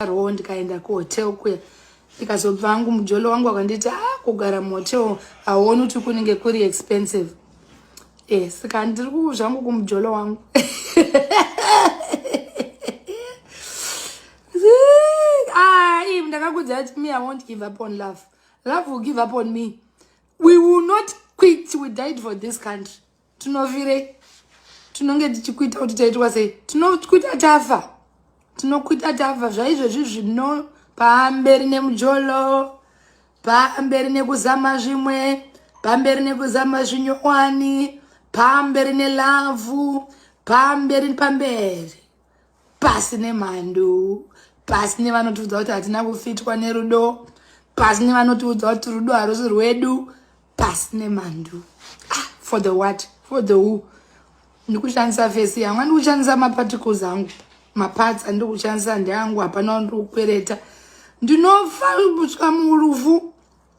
rowo ndikaenda kuhotel kuya ndikazobva hangu mujolo wangu akanditi a ah, kugara muhotel hauoni kuti kunenge kuri expensive e saka ndiri kuzvangu kumujolo wangu ah, im ndakakudza ati me i won't give up on love love will give up on me we will not quit we died for this country tinovirei tinonge tichikuita kuti taitwa sei tinokuita tafa tinokuita tafa zvaizvezvi zvino pamberi nemujolo pamberi nekuzama zvimwe pamberi nekuzama zvinyowani pamberi nelavhu pamberi pamberi pasi nemhandu pasi nevanotiudza kuti hatina kufitwa nerudo pasi nevanotiudza kuti rudo harusi rwedu pasi nemhandu ah, for the what for the who ndikushandisa fesi yangu andikushandisa maparticles angu maparts andikushandisa ndeangu hapana ndikukwereta ndinofa kusvika murufu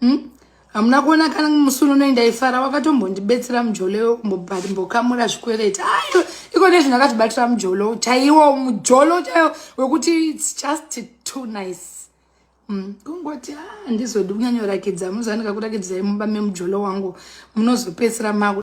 hmm? hamuna kuona kana musunu nei ndaifara wakatombondibetsera mujolo mbokamura zvikwereti ayo iko nezvi ndakatibatira mujolo chaiwo mujolo chaiwo wekuti its just too nice hmm, kungoti handizodi ah, kunyanyorakidza muzanika kurakidzai mumba memujolo wangu munozopedzisira maku